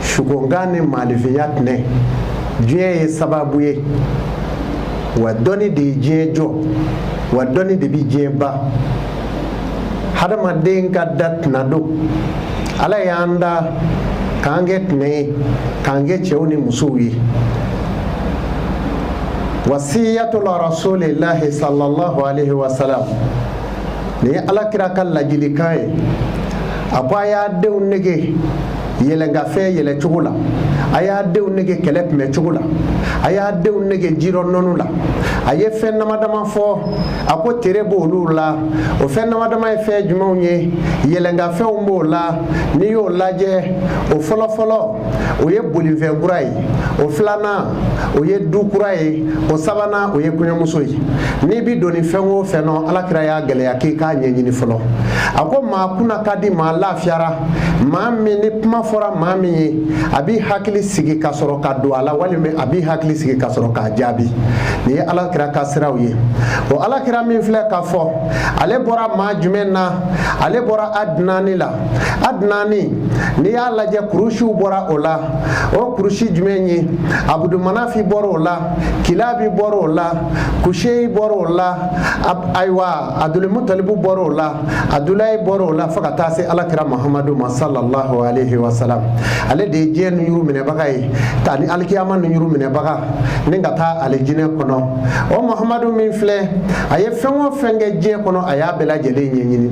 sukonkan ni maanifinya tɛnɛ diɲɛ ye sababu ye wa dɔnni de ye diɲɛ jɔ wa dɔnni de bɛ diɲɛ ban hadamaden ka da tɛna dɔn ala y'an da k'an kɛ tɛnɛ ye k'an kɛ cɛw ni musow ye wasiyatul rasulillahi sallallahu alaihi wasallam nin ye ala kira ka ladilikan ye a ko a y'a denw nege yɛlɛnkafɛn yɛlɛ cogo la a y'a denw nege kɛlɛ kunbɛn cogo la a y'a denw nege jirɔ nɔnni la a ye fɛn dama dama fɔ a ko tere b'olu la o fɛn dama dama ye fɛn jumɛnw ye yɛlɛnkafɛnw b'o la n'i y'o lajɛ o fɔlɔfɔlɔ o ye bolifɛn kura ye o filanan o ye du kura ye o sabanan o ye kɔɲɔmuso ye n'i bi don nin fɛn o fɛn nɔ alakira y'a gɛlɛya k'i k'a ɲɛɲini fɔlɔ a ko maa kunna ka di maa lafiyara maa min ni kuma fɔra maa min ye a b'i hakili sigi ka sɔrɔ ka don a la walima a b'i hakili sigi ka sɔrɔ k'a jaabi nin ye alakira ka siraw ye o alakira min filɛ ka fɔ ale bɔra maa jumɛn na ale bɔra adinani la adinani n'i y'a lajɛ kurusiw bɔra o la o kurusi jumɛn ye abudumanafi bɔra o la kilabi bɔra o la kuseyi bɔra o la ayiwa adulimutalibu bɔra o la adulayi bɔra o la fo ka taa se alakira muhamadu ma sallallahu alaihi wa salam ale de ye diɲɛ nunjuru minɛbaga ye ta ni alikiyama nunjuru minɛbaga ni ka taa alijinɛ kɔnɔ o muhamadu min filɛ a ye fɛn o fɛn kɛ diɲɛ kɔnɔ a y'a bɛɛ lajɛlen ɲɛɲini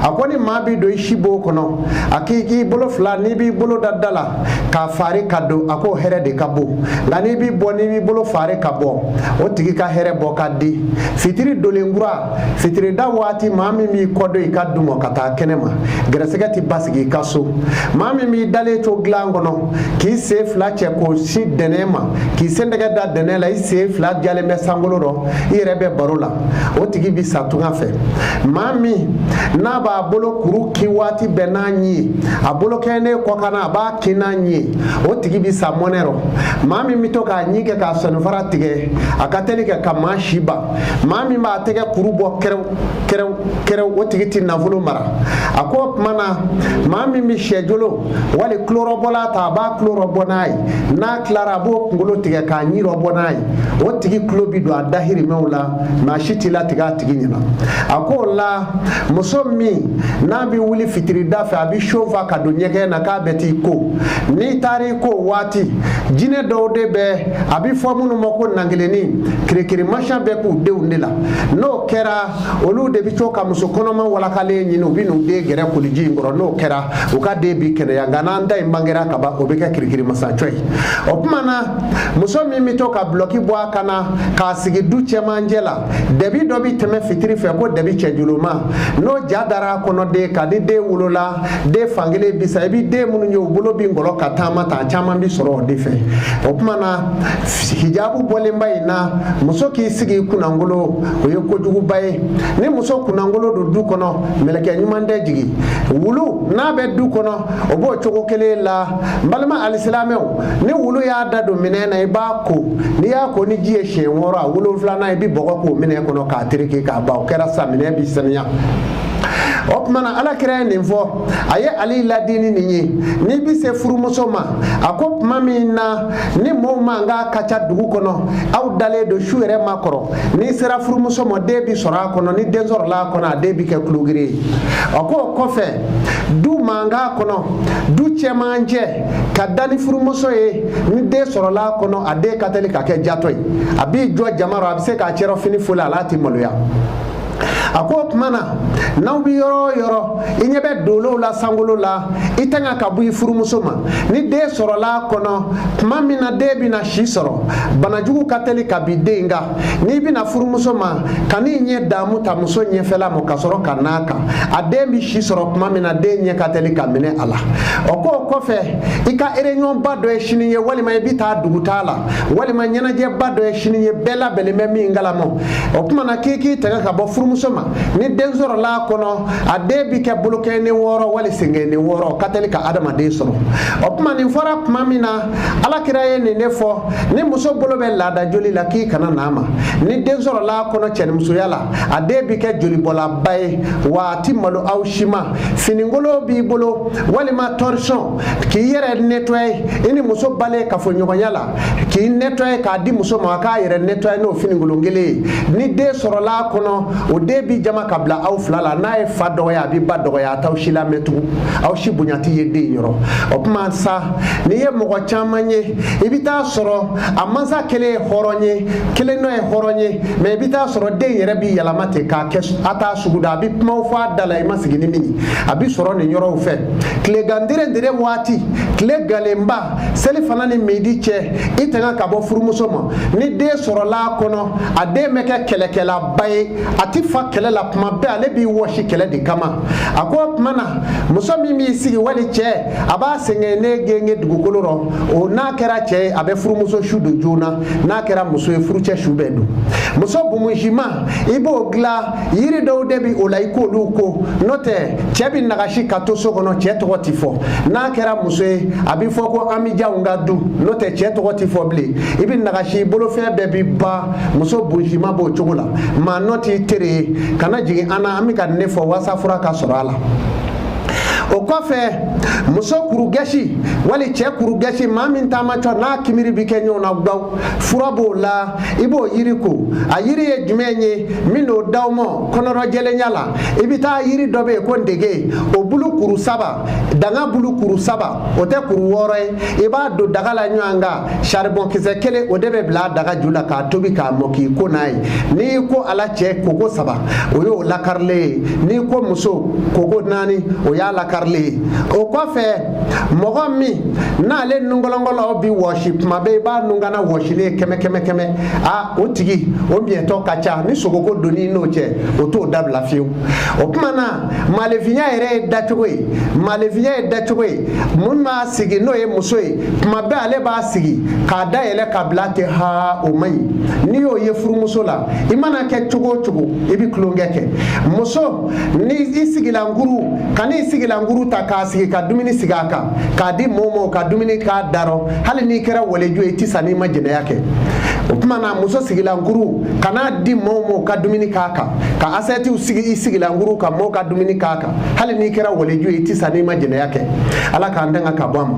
a ko ni maa bi don i sibon kɔnɔ a k'i k'i bolo fila n'i b'i bolo da da la k'a fari ka don a k'o hɛrɛ de ka bon nka n'i b'i bɔ n'i b'i bolo fari ka bɔ o tigi ka hɛrɛ bɔ ka di fitiri dolen kura fitirida waati maa min b'i kɔdon i ka du ma ka taa kɛnɛ ma gɛrɛsɛgɛ ti basigi i ka so maa min b'i dalen to dilan kɔnɔ k'i sen fila cɛ k'o sin dɛnɛ ma k'i sentɛgɛ da dɛnɛ la i sen fila jalen bɛ sankolo rɔ i yɛrɛ bɛ baro la o tigi bi sa tunga fɛ maa min n'a b'a bolokuru kin waati bɛɛ n'a ɲi ye a bolo kɛɲɛnen kɔkanna a b'a kin n'a ɲi ye o tigi bi sa mɔnɛ rɔ maa min bɛ to k'a ɲi kɛ k'a sɔninfara tigɛ a ka teli kɛ ka maa si ban maa min b'a tɛgɛ kuru bɔ kɛrɛw kɛrɛw kɛrɛw o tigi ti nafolo mara a ko o tuma na maa min bɛ syɛjolo wali tulorɔbɔlan ta a b'a tulorɔ bɔ n'a ye n'a tilara a b'o kunkolo tigɛ k'a ɲirɔ bɔ n'a ye o tigi tulo bi don a dahirimɛw la maa si t'i latigɛ a tigi ɲɛna a ko o la muso min n'a bɛ wuli fitirida fɛ a bɛ siyo fa ka don ɲɛgɛn na k'a bɛ t'i ko n'i taara i ko waati jinɛ dɔw de bɛ a bɛ fɔ minnu ma ko nankelenni kirikirimasiyɛn bɛ k'u denw de la n'o kɛra olu de bɛ to ka muso kɔnɔma walakalen ɲini u bɛ n'u den gɛrɛ koliji in kɔrɔ n'o kɛra u ka den bi kɛnɛya nka n'a den bangera ka ban o bɛ kɛ kirikirimasacɔ ye o tuma na muso min bɛ to ka bulɔki bɔ a kan na k'a sigi du cɛmancɛ la dɛbi dɔ bɛ tɛmɛ fitiri fɛ ko dɛbi cɛjuluma n'o ja dara a kɔnɔ den kan ni den wolola den fankelen bi sa i bɛ den minnu ye u bolo bɛ ngɔlɔ ka taama ta caman bɛ sɔrɔ o de fɛ o tuma na hijabu bɔlenba in na muso k'i sigi kunnankolon o ye kojuguba ye ni muso kunnankolon don du kɔnɔ mɛlɛkɛ ɲuman tɛ jigin wulu n'a bɛ du kɔnɔ o b'o cogo kelen la n balima alisilamɛw ni wulu y'a da don minɛn na i b'a ko n'i y'a ko ni ji ye siɲɛ wɔɔrɔ a wolonfilanan i bɛ bɔgɔ k'o minɛn kɔnɔ k'a tereke ka ban o kɛra sa minɛn bi saniya o tuma na ala kira ye nin fɔ a ye ali laadi ni nin ye n'i bɛ se furumuso ma a ko tuma min na ni mɔgɔw mankan ka ca dugu kɔnɔ aw dalen don su yɛrɛ ma kɔrɔ n'i sera furumuso ma den bi sɔrɔ a kɔnɔ ni den sɔrɔla a kɔnɔ a den bi kɛ kulogiri ye a k'o kɔfɛ du mankan kɔnɔ du cɛmancɛ ka da ni furumuso ye ni den sɔrɔla a kɔnɔ a den ka teli ka kɛ jatɔ ye a b'i jɔ jama rɔ a bɛ se k'a cɛrɔfini foli a la a tɛ maloya a ko o tuma na n'aw bɛ yɔrɔ o yɔrɔ i ɲɛ bɛ dolow la sankolo la i tanga ka bɔ i furumuso ma ni den sɔrɔla a kɔnɔ tuma min na den bɛna si sɔrɔ banajugu ka teli ka bin den kan n'i bɛ na furumuso ma kan'i ɲɛ damu ta muso ɲɛfɛla ma ka sɔrɔ ka n'a kan a den bɛ si sɔrɔ tuma min na den ɲɛ ka teli ka minɛ a la o k'o kɔfɛ i ka ereyɔnba dɔ ye sini ye walima i bɛ taa dugutaa la walima ɲɛnajɛba dɔ ye sini ye bɛɛ labɛnnen bɛ min kalama o tuma na k'i k'i tɛgɛ ka bɔ furumuso ma ni den sɔrɔla a kɔnɔ a den bi kɛ bolokɔni wɔɔrɔ wali senkɔni wɔɔrɔ ka teli ka adamaden sɔrɔ o kuma nin fɔra tuma min na ala kira ye nin de fɔ ni muso bolo bɛ laada joli la k'i kana na a ma ni den sɔrɔla a kɔnɔ cɛnimusoya la a den bi kɛ jolibɔlaba ye wa a ti malo aw si ma finikolon b'i bolo walima tɔrisɔn k'i yɛrɛ netɔye i ni muso bannen kafoɲɔgɔnya la k'i nettoyer k'a di muso ma a k'a yɛrɛ nettoyer n'o finikolon kelen ye ni den sɔrɔla a kɔnɔ o den bi jaman ka bila aw fila la n'a ye fa dɔgɔya a bɛ ba dɔgɔya a t'aw si lamɛn tugun aw si bonya tɛ ye den yɔrɔ o tuma sa n'i ye mɔgɔ caman ye i bɛ taa sɔrɔ a mansa kelen ye hɔrɔn ye kelen dɔ ye hɔrɔn ye mɛ i bɛ taa sɔrɔ den yɛrɛ b'i yɛlɛma ten k'a kɛ a t'a sugu da a bɛ kumaw fɔ a da la i ma sigi ni min ye a bɛ sɔrɔ nin yɔrɔw fɛ tilegan dere dere waati tile galenba selifana ni midi cɛ i tanga ka bɔ furumuso ma ni den sɔrɔla a kɔnɔ a den bɛ kɛ kɛlɛkɛlaba ye a ti fa kɛlɛ la tuma bɛɛ ale b'i wɔsi kɛlɛ de kama a ko o tuma na muso min b'i sigi wali cɛ a b'a senkɔni gengen dugukolo rɔ o n'a kɛra cɛ ye a bɛ furumuso su don joona n'a kɛra muso ye furucɛ su bɛ don muso bumusiman i b'o dilan yiri dɔw de bi o la i k'olu ko n'o tɛ cɛ bi nagasi ka to so kɔnɔ cɛ tɔgɔ ti fɔ n'a kɛra muso ye a bi fɔ ko ami jan ka du n'o tɛ cɛ tɔgɔ ti fɔ bilen i bi nagasi bolofɛn bɛɛ bi ban muso bonsima b'o cogo la maa nɔ t'i tere ye kana jigi an na an bi k'a ɲɛfɔ walasa fura ka sɔrɔ a la o kɔfɛ muso kurugɛsi wali cɛ kurugɛsi maa min taamacɔ n'a kimiri bi kɛ ɲɔgɔn na gbaw fura b'o la i b'o yiri ko a yiri ye jumɛn ye n bin'o d'aw ma kɔnɔrɔjɛlenya la i bɛ taa yiri dɔ bɛ yen ko ndege o bulu kuru saba danga bulu kuru saba o tɛ kuru wɔɔrɔ ye i b'a don daga la ɲɔgɔn kan saribɔn kisɛ kelen o de bɛ bila daga ju la k'a tobi k'a mɔ k'i ko n'a ye n'i ko a la cɛ koko saba o y'o lakarilen ye n'i ko muso koko naani o y'a lakarilen ye o kɔfɛ mɔgɔ min n'ale nunkolonkolon bi wɔsi tuma bɛɛ i b'a nunkana wɔsilen ye kɛmɛ kɛmɛ kɛmɛ a o tigi o miɲɛtɔ ka ca ni sogoko don i n'o cɛ o t'o dabila fiyewu o tuma na maalefinya yɛrɛ ye dacogo ye maalefinya ye dacogo ye mun b'a sigi n'o ye muso ye tuma bɛɛ ale b'a sigi k'a da yɛlɛ ka bila ten ha o man ɲi n'i y'o ye furumuso la i mana kɛ cogo o cogo i bɛ tulonkɛ kɛ muso ni i sigilankuru kan'i sigilankuru ta k'a sigi ka dumuni sigi a kan k'a di mɔɔ m'o ka dumuni k'a darɔ hali n'i kɛra waliju ye i tɛ sa n'i ma jɛnɛya kɛ o tuma na muso sigilankuru kan'a di mɔɔ m'o ka dumuni k'a kan ka asɛtiw sigi i sigilankuru kan mɔɔ ka dumuni k'a kan hali n'i kɛra waliju ye i tɛ sa n'i ma jɛnɛya kɛ ala k'an tanga ka bɔ a ma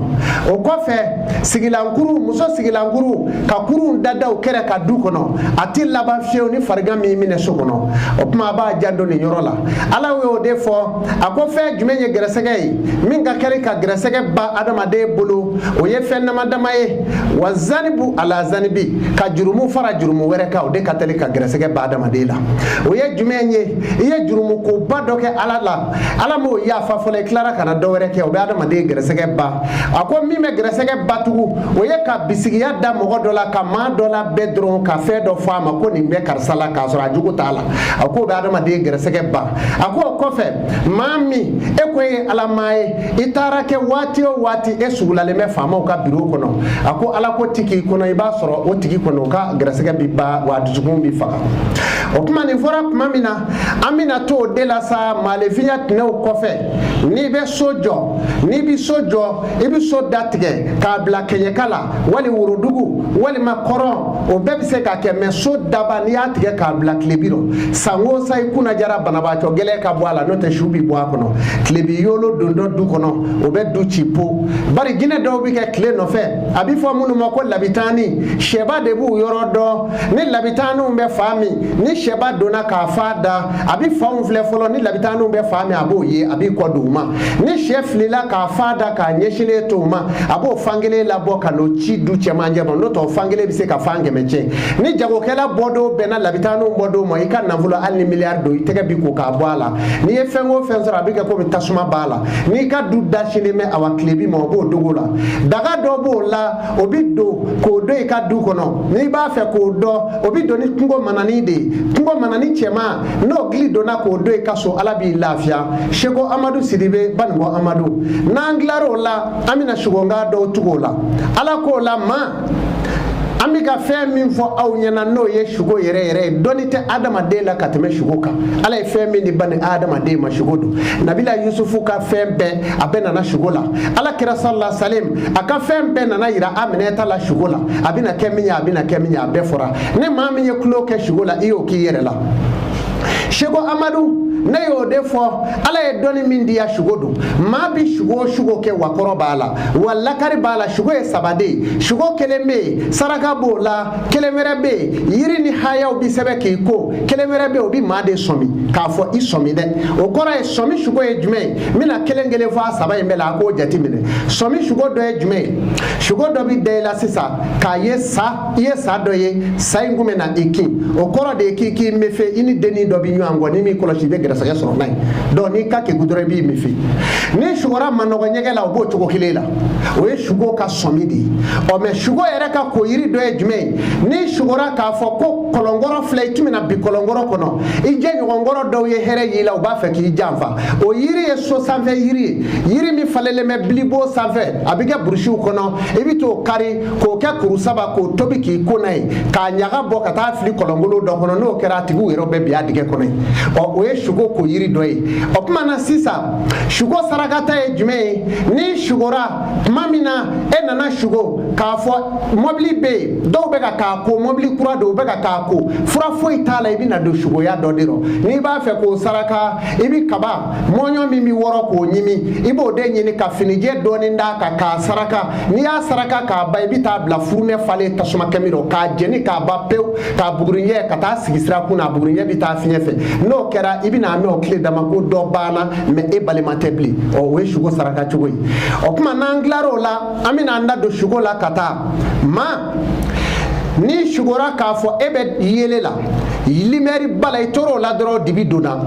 o kɔfɛ sigilankuru muso sigilankuru ka kurunw dad'u kɛrɛ kan du kɔnɔ a ti laban fiyewu ni farigan m'i minɛ so kɔnɔ o tuma a b'a janto nin yɔrɔ la ala y'o de fɔ a ko fɛn jumɛn ye gɛrɛsɛgɛ ye min ka teli ka gɛrɛsɛgɛ ban adamaden bolo o ye fɛn dama dama ye wa zanibu ala zanibi ka jurumu fara jurumu wɛrɛ kan o de ka teli ka gɛrɛsɛgɛ ban adamaden la o ye jumɛn ye i ye jurumu koba dɔ kɛ ala la ala m'o yafa fɔlɔ i tilara ka na dɔ wɛrɛ kɛ o bɛ adamaden gɛrɛsɛgɛ ban a ko min bɛ gɛrɛsɛgɛ ban tugu o ye ka bisigiya da mɔgɔ dɔ la ka maa dɔ lajɛ dɔrɔn ka fɛn dɔ fɔ a ma ko nin bɛ karisa la k'a sɔrɔ a jogo t'a la a ko o bɛ adamaden gɛrɛsɛgɛ ban a ko o kɔfɛ maa min e ko e ye ala maa ye i taara kɛ waati o waati e sugulalen bɛ faamaw ka biro kɔnɔ a ko ala ko ti k'i kɔnɔ i b'a sɔrɔ o tigi kɔnɔ o ka gɛrɛsɛgɛ bi ban wa dusukun bi faga o tuma nin fɔra tuma min na an bɛna to o de la sa maalefinya tɛnɛw kɔfɛ n'i bɛ so jɔ n'i bɛ so jɔ i bɛ so datigɛ k'a bila kɛɲɛka la wali worodugu walima kɔrɔn o bɛɛ bɛ se ka kɛ mɛ so daba n'i y'a tigɛ k'a bila tilebi rɔ san o san i kunna jara banabaatɔ gɛlɛn ka bɔ a la n'o tɛ su bɛ bɔ a kɔnɔ tilebi yolo dontɔ du kɔnɔ o bɛ du ci po bari jinɛ dɔw bɛ kɛ tile nɔfɛ a bɛ fɔ minnu ma ko labitani sɛba de b'u yɔrɔ dɔn ni labitaniw bɛ fan min ni sɛba donna k'a fan da a bɛ fan min filɛ fɔlɔ ni labitaniw bɛ fan min a b'o ye a b'i kɔ don u ma ni sɛ filila k'a fan da k'a ɲɛsinnen to u ma a b'o fan kelen labɔ ka n'o ci du cɛmancɛ ma n'o tɛ o fan kelen bɛ se ka fan kɛmɛ tiɲɛ ni jagokɛla bɔdon bɛnna labitaniw bɔdon ma i ka nafolo hali ni miliyari don i tɛgɛ bi ko ka bɔ a la n'i ye fɛn o fɛn sɔrɔ a bɛ kɛ komi tasuma b'a la n'i ka du da sinnen bɛ awa tilebin ma o b'o dogo la daga dɔ b'o la o bi don k'o don i ka du kɔnɔ n'i b'a fɛ k'o don o bi don ni kungo manani de ye kungo manani cɛman n'o gili donna k'o don i ka so ala b'i lafiya seko amadu sidibe banibɔ amadu n'an tilar'o la an bɛna sugonka dɔw tugu o la ala k'o la maa an bɛ ka fɛn min fɔ aw ɲɛna n'o ye sugo yɛrɛ yɛrɛ ye dɔnni tɛ adamaden la ka tɛmɛ sugo kan ala ye fɛn min di bani adamaden ma sugo don nabila yusufu ka fɛn bɛɛ a bɛɛ nana sugo la ala kira salala salim a ka fɛn bɛɛ nana yira aminata la sugo la a bɛna kɛ min ye a bɛna kɛ min ye a bɛɛ fɔra ni maa min ye tulon kɛ sugo la i y'o k'i yɛrɛ la seko amadu ne y'o de fɔ ala ye dɔnni min diya sugo don maa bi sugo o sugo kɛ wa kɔrɔ b'a la wa lakari b'a la sugo ye saba de ye sugo kelen bɛ yen saraka b'o la kelen wɛrɛ bɛ yen yiri ni hayaw bi sɛbɛn k'i ko kelen wɛrɛ bɛ yen o bi maa de sɔmi k'a fɔ i sɔmi dɛ o kɔrɔ ye sɔmi sugo ye jumɛn ye n bɛna kelen kelen fɔ a saba in bɛɛ la a k'o jate minɛ sɔmi sugo dɔ ye jumɛn ye sugo dɔ bɛ da i la sisan k'a ye sa i ye sa dɔ ye sa in kun bɛ na i kin o kɔrɔ de ye k'i k'i mefe i ni dennin dɔ bɛ ɲɔgɔn kɔ n'i m'i kɔlɔsi i bɛ gɛrɛsɛgɛ sɔrɔ n'a ye dɔnku n'i ka kegu dɔrɔn i b'i mefe n'i sugora manɔgɔ jɛgɛ la o b'o cogo kelen la o ye sugo ka sɔmi de ye ɔ mɛ sugo yɛrɛ ka ko yiri dɔ ye jumɛn ye n'i sugora k'a fɔ ko kɔlɔnkɔrɔ filɛ i tun bɛ na bin kɔlɔnkɔrɔ kɔnɔ i jɛɲɔgɔn kɔrɔ dɔw ye hɛrɛ y'i la u b'a fɛ k'i janfa o yiri ye so sanfɛ yiri ye yiri min falenlen bɛ bilibo sanfɛ a bɛ kɛ burusiw kɔnɔ i bɛ t'o kari k'o kɛ kuru saba k'o tobi k'i ko n'a ye k'a ɲaga bɔ ka taa fili kɔlɔnkolon dɔ kɔnɔ n'o kɛra a tigiw yɛrɛ bɛ bin a dingɛ kɔnɔ yen ɔ o ye sugo ko yiri dɔ ye o tuma na sisan sugo sarakata ye jumɛn ye n'i sugora tuma min na e nana sugo k'a fɔ mɔbili bɛ yen dɔw bɛ ka k'a ko mɔbili kura don u bɛ ka k'a ko fura foyi t'a la i bɛ na don sukoya dɔ de rɔ n'i b'a fɛ k'o saraka i bi kaba mɔɲɔ min bi wɔrɔ k'o ɲimi i b'o de ɲini ka finijɛ dɔɔni d'a kan k'a saraka n'i y'a saraka k'a ban i bi taa bila furunɛ falen tasuma kami rɔ k'a jeni k'a ban pewu k'a buguri cɛ ka taa sigi sira kun na a bugurijɛ bi taa fiɲɛ fɛ n'o kɛra i bɛna mɛn o tile dama ko dɔ banna mɛ e balima tɛ bilen ɔ o ye sugo saraka cogo ye o tuma n'an tilar'o la an bɛna an da don sugo la ka taa ma n'i sugora k'a fɔ e bɛ yeelen la limɛriba la i tor'o la dɔrɔn dibi donna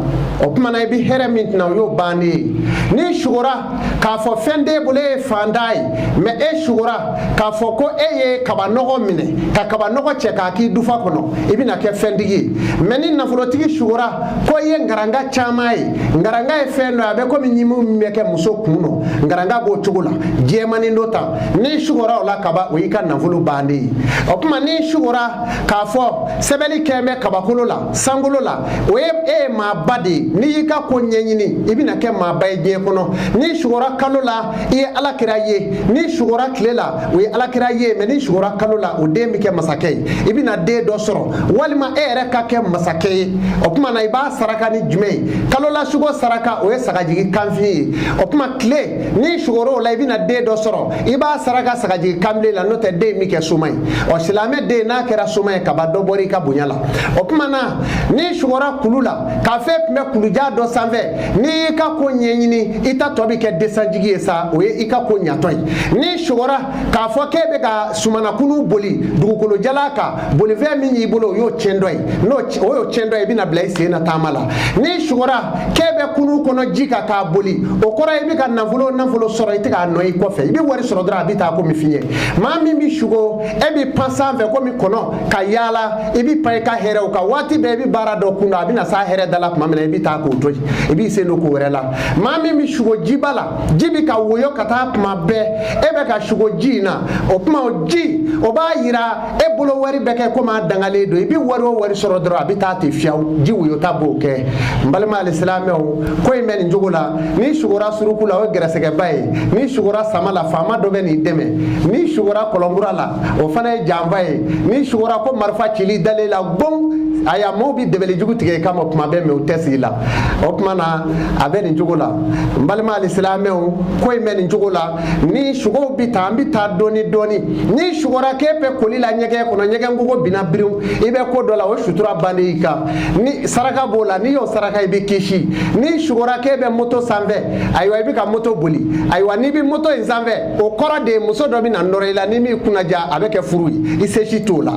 o kuma na i bɛ hɛrɛ min tɛna o y'o bannen ye n'i sugora k'a fɔ fɛn t'e bolo e ye fantan ye mɛ e sugora k'a fɔ ko e ye kabanɔgɔ minɛ ka kabanɔgɔ cɛ k'a k'i dufa kɔnɔ i bɛna kɛ fɛntigi ye mɛ ni nafolotigi sugora ko i ye nkaranga caman ye nkaranga ye fɛn dɔ ye a bɛ komi ɲimi min bɛ kɛ muso kun nɔ nkaranga b'o cogo la jɛmanin dɔ ta n'i sugora o la kaban o y'i ka nafolo bannen ye o kuma n'i sugora k'a fɔ sɛbɛnni kɛn bɛ kabakolo la sankolo la o ye e ye maaba de ye n'i y'i ka ko ɲɛɲini i bɛna kɛ maaba ye diɲɛ kɔnɔ n'i sugora kalo la i ye ala kira ye n'i sugora tile la o ye ala kira ye mɛ n'i sugora kalo la o den bɛ kɛ masakɛ ye i bɛna den dɔ sɔrɔ walima e yɛrɛ ka kɛ masakɛ ye o kuma na i b'a saraka ni jumɛn ye kalo la sugo saraka o ye sagajigi kanfin ye o kuma tile n'i sugora o la i bɛna den dɔ sɔrɔ i b'a saraka sagajigi kanbilen la n'o tɛ den bi kɛ soma ye ɔ silamɛ den n'a kɛra soma ye kaban dɔ bɔra i ka bonya la o kuma na n'i sugora kulu la k'a fɔ e tun bɛ kulujan dɔ sanfɛ n'i y'i ka ko ɲɛɲini i taatɔ bɛ kɛ desanjigi ye sa o ye i ka ko ɲatɔ ye n'i sugora k'a fɔ k'e bɛ ka somɔnɔkurun boli dugukolo jalan kan bolifɛn min y'i bolo o y'o tiɲɛtɔ ye n'o o y'o tiɲɛtɔ ye i bɛna bila i sen na taama la n'i sugora k'e bɛ kurun kɔnɔ ji kan k'a boli o kɔrɔ ye i bɛ ka nafolo nafolo sɔrɔ i tɛ k'a nɔ ye kɔfɛ i bɛ wari sɔrɔ dɔrɔn a bɛ taa komi fiɲɛ maa min bɛ sugo e bɛ pan sanfɛ komi kɔnɔ ka yaala i bɛ pan i ka hɛrɛw kan waati bɛɛ i bɛ baara dɔ kun na a bɛna s'a hɛrɛ da la tuma min na i bɛ taa k'o to yen i b'i sen don ko wɛrɛ la maa min bɛ sugo jiba la ji bɛ ka woyo ka taa tuma bɛɛ e bɛ ka sugo ji in na o tuma o ji o b'a yira e bolo wari bɛ kɛ komi a dangalen don i bɛ wari o wari sɔrɔ dɔrɔn a bɛ taa ten fiyewu ji woyota b'o kɛ n balima alisilamɛw ko in bɛ nin cogo la n'i sugora suruku la o ye gɛrɛsɛgɛba ye n'i sugora sama la faama dɔ bɛ n'i dɛmɛ n'i sugora kɔlɔnkura la o fana ye janfa ye n'i sugora ko marifa cili dalen la gbɔn ayiwa maaw bi dabali jugu tigɛ i kama kuma bɛɛ mɛ u tɛ se i la o kuma na a bɛ nin cogo la n balima alisilamɛw ko in bɛ nin cogo la nin sugow bi tan an bi taa dɔɔni dɔɔni n'i sugora k'e bɛ koli la ɲɛgɛn kɔnɔ ɲɛgɛn kogo binna biriw i bɛ ko dɔ la o sutura bannen i kan ni saraka b'o la n'i y'o saraka i bɛ kisi n'i sugora k'e bɛ moto sanfɛ ayiwa i bɛ ka moto boli ayiwa n'i bɛ moto in sanfɛ o kɔrɔ de ye muso dɔ bɛ na nɔrɔ i la n'i m'i kunnaja a bɛ kɛ furu ye i se si t'o la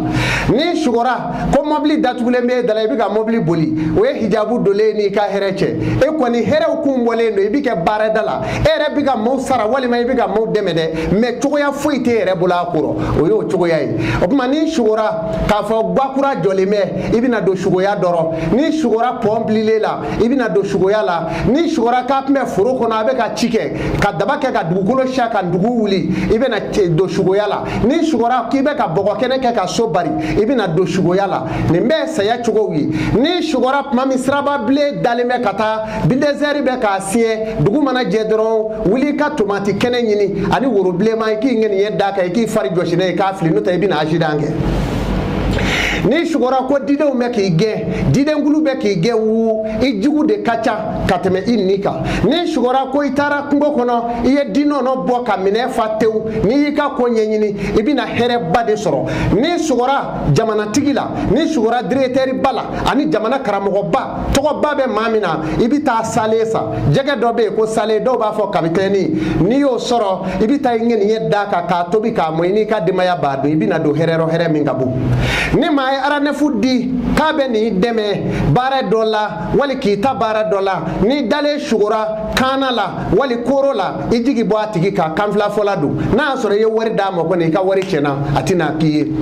n'i sugora ko mɔbili datugulen bɛ e da la i bɛ ka mɔbili boli o ye hijabu donlen i n'i ka hɛrɛ cɛ e kɔni hɛrɛw kun bɔlen don i bɛ kɛ baarada la e yɛrɛ bɛ ka maaw sara walima i bɛ ka maaw dɛmɛ dɛ mɛ cogoya foyi t'e yɛrɛ bolo a kɔrɔ o y'o cogoya ye o kuma n'i sugora k'a fɔ gakura jɔlen bɛ i bɛna don sugoya dɔ rɔ n'i sugora pɔn bililen la i bɛna don sugoya la n'i sugora k'a tun bɛ foro kɔnɔ a bɛ ka ci kɛ ka daba kɛ ka dugukolo siyɛn ka dugu wuli i bɛna don sugoya la n'i sugora k'i bɛ ka bɔgɔkɛnɛ kɛ ka so bari i bɛna don sugoya la nin bɛɛ ye saya cogow ye n'i sugora tuma min siraba bilen dalen bɛ ka taa bidɛsɛri bɛ k'a siɲɛ dugu mana jɛ dɔrɔn wuli ka tomati kɛnɛ ɲini ani woro bilenman i k'i ŋɛniɲɛ d'a kan i k'i fari jɔsi n'a ye k'a fili n'o tɛ i bɛna asidan kɛ n'i sugora ko didenw bɛ k'i gɛn didenkulu bɛ k'i gɛn wu i jugu de ka ca ka tɛmɛ i ɲin kan n'i sugora ko i taara kungo kɔnɔ i ye di nɔnɔ bɔ ka minɛn fa tewu n'i y'i ka ko ɲɛɲini i bɛna hɛrɛba de sɔrɔ n'i sugora jamanatigi la n'i sugora diretɛriba la ani jamana karamɔgɔba tɔgɔba bɛ maa min na i bɛ taa saalen san jɛgɛ dɔ bɛ yen ko saalen dɔw b'a fɔ kapitɛni n'i y'o sɔrɔ i bɛ taa i ŋɛniɲɛ d'a kan k'a tobi k'a mɔ i n'i ka denbaya b'a dun i bɛna don hɛrɛ rɔ hɛrɛ min ka bon ni maa ye arandevu di k'a bɛ n'i dɛmɛ baara dɔ la wali k'i ta baara dɔ la n'i dalen sugora kaana la wali koro la i jigi bɔ a tigi kan kanfilafɔla don n'a y'a sɔrɔ i ye wari d'a ma kɔni i ka wari tiɲɛna a tɛna k'i ye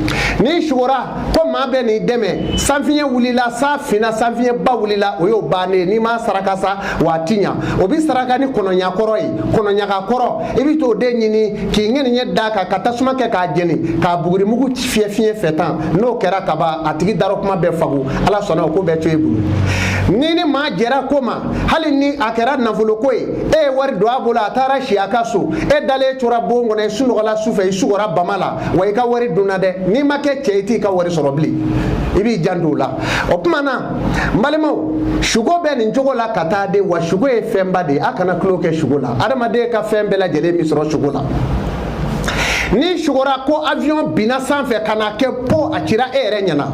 n'i sugora ko maa bɛ n'i dɛmɛ sanfiɲɛ wulila san finna sanfiɲɛba wulila o y'o bannen ye n'i m'a saraka sa wa a ti ɲa o bi saraka ni kɔnɔɲa kɔrɔ ye kɔnɔɲaga kɔrɔ i bi t'o de ɲini k'i ŋɛniɲɛ d'a kan ka tasuma kɛ k'a jeni k'a bugurimugu fiyɛ fiɲɛ fɛ tan n'o kɛra ka ban a tigi darɔkuma bɛɛ fago ala sɔnna o ko bɛ to e bolo n'i ni maa jɛra ko ma hali ni a kɛra nafoloko ye e ye wari don a bolo a taara si a ka so e dalen tora bon kɔnɔ i sunɔgɔla su fɛ i sugora bama la wa i ka wari dunna dɛ n'i ma kɛ cɛ i t'i ka wari sɔrɔ bilen i b'i janto o la o tuma na n balimaw suko bɛ nin cogo la ka taa dɛ wa suko ye fɛnba de ye a kana tulon kɛ suko la adamaden ka fɛn bɛɛ lajɛlen bɛ sɔrɔ suko la n'i sugora ko avion binna sanfɛ ka na kɛ po a cira e yɛrɛ ɲɛna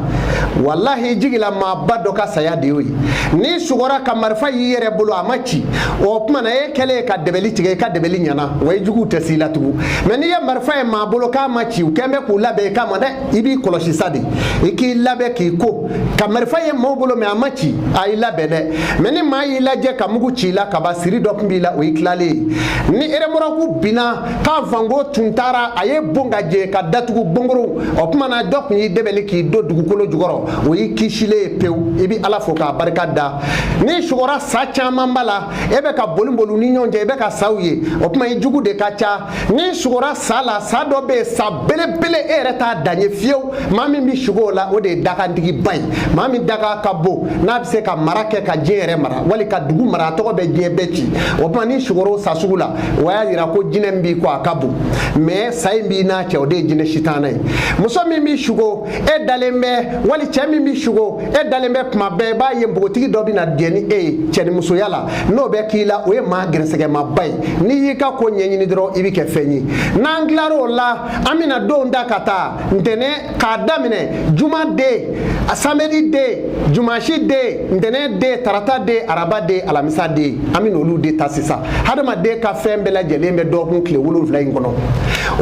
walahi jigilamaaba dɔ ka saya de y'o ye n'i sugora ka marifa y'i yɛrɛ bolo a ma ci o tuma na e kɛlen ka dɛbɛli tigɛ i ka dɛbɛli ɲɛna wa i juguw tɛ s'i la tugun mɛ n'i ye marifa ye maa bolo k'a ma ci u kɛn bɛ k'u labɛn i kama dɛ i b'i kɔlɔsi sa dɛ i k'i labɛn k'i ko ka marifa ye maaw bolo mɛ a ma ci a y'i labɛn dɛ mɛ ni maa y'i lajɛ ka mugu ci i la ka ban siri dɔ tun b'i la o y'i tilalen ye ni eremɔrɔku binna k'a fanko tun taara a ye bon ka jɛ ka datugu bongoro o tuma na dɔ tun y'i dɛbɛli k'i don dugukolo jukɔrɔ o y'i kisilen ye pewu i bɛ ala fo k'a barika da n'i sugora sa caman b'a la e bɛ ka boli boli ni ɲɔgɔn cɛ i bɛ ka saw ye o tuma i jugu de ka ca n'i sugora sa la sa dɔ bɛ yen sa belebele e yɛrɛ t'a dan ye fiyewu maa min bɛ sugo o la o de ye dakantigiba ye maa min dakan ka bon n'a bɛ se ka mara kɛ ka diɲɛ yɛrɛ mara wali ka dugu mara a tɔgɔ bɛ diɲɛ bɛɛ ci o tuma n'i sugora o sa sugu la o y'a yira ko jinɛ min b'i kɔ a ka bon mɛ sa in b'i n'a cɛ o de ye jinɛ sitana ye muso min b'i sugo e dalen bɛ wali cɛ min b'i sugo e dalen bɛ kuma bɛɛ i b'a ye npogotigi dɔ bɛ na jɛ ni e ye cɛnimusoya la n'o bɛ k'i la o ye maa gɛrɛsɛgɛmaba ye n'i y'i ka ko ɲɛɲini dɔrɔn i bɛ kɛ fɛn ye n'an tilar'o la an bɛna don da ka taa ntɛnɛn k'a daminɛ juma den samedi den jumasi den ntɛnɛn den tarata den araba den alamisa den an bɛ n'olu de ta sisan hadamaden ka fɛn bɛɛ lajɛlen bɛ dɔgɔkun tile wolonfila in kɔnɔ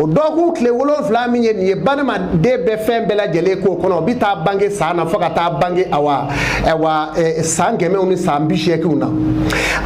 o dɔgɔkun tile wolonfila min ye nin ye badamaden bɛ fɛn bɛɛ lajɛlen k'o kɔnɔ o bɛ taa bange san na fo ka taa bange awa awa eh, san kɛmɛw ni san bi seeginw na